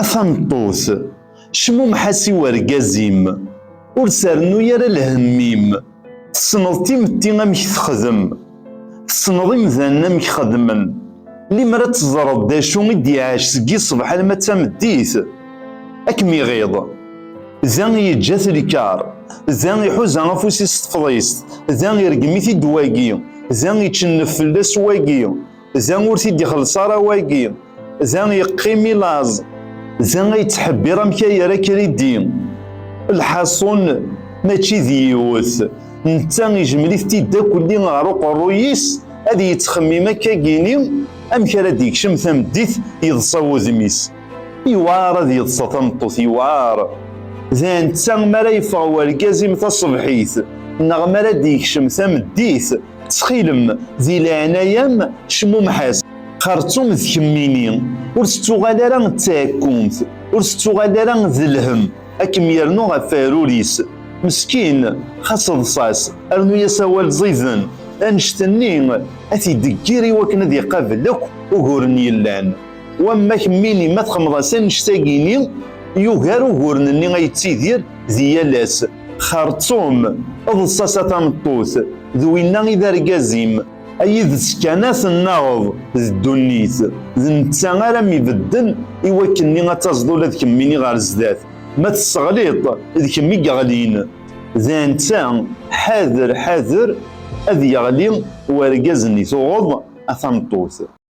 A tameṭṭut, cmumeḥ-as i wergaz-im, ur s-rennuy ara lhemm-im. Tessneḍ timetti amek texdem, tessneḍ imdanen amek xedmen, limer ad teẓreḍ d acu i d-iɛac seg yiṣbeḥ alamma d tameddit. Ad kem-iɣiḍ. Da i yeǧǧa-t lkar, da iḥuza afus-is s tefḍist, da ireggem-it-id wagi, da ičennef fell-as wagi. Za ur t-id-ixelleṣ ara wagi, za yeqqim i laẓ, za ay ttḥebbiṛ amek ay yerra kridi. Lḥaṣun mačči d yiwet, netta ijmel-it-id akk lli ɣer uqerruy-is ad yettxemmim akka gini amek ara d-yekcem tameddit yeḍṣa wudem-is. Yewɛaṛ ad yeḍṣa tameṭṭut, yewɛaṛ. D netta mi ara yeffeɣ wergaz-im taṣebḥit neɣ mi ara d-yekcem tameddit, Ttxilem, di leɛnaya-m, cmumeḥ-as. Xertum d kemmini, ur tettuɣal ara d taɛekkumt, ur tettuɣal ara d lhem, ad kem-yernu ɣef weɛrur-is. Meskin, xas ḍṣa-s, rnu-as awal ẓiden, annect-nni ad t-id-teggir i wakken ad iqabel akk uguren yellan. Wamma kemmini ma txemmeḍ-as annect-agi-ni yugar uguren-nni ay yettidir di yal ass. Xerṭum, eḍs-as a tameṭṭut, d winna i d argaz-im. A yid-s kan a tennaɣeḍ d ddunit, d netta ara m-ibedden i wakken-nni ad taẓeḍ ula d kemmini ɣer zdat. Ma tesseɣliḍ-t, d kemm i yeɣlin. D netta, ḥader, ḥader ad yeɣli wergaz-nni tuɣeḍ a tameṭṭut.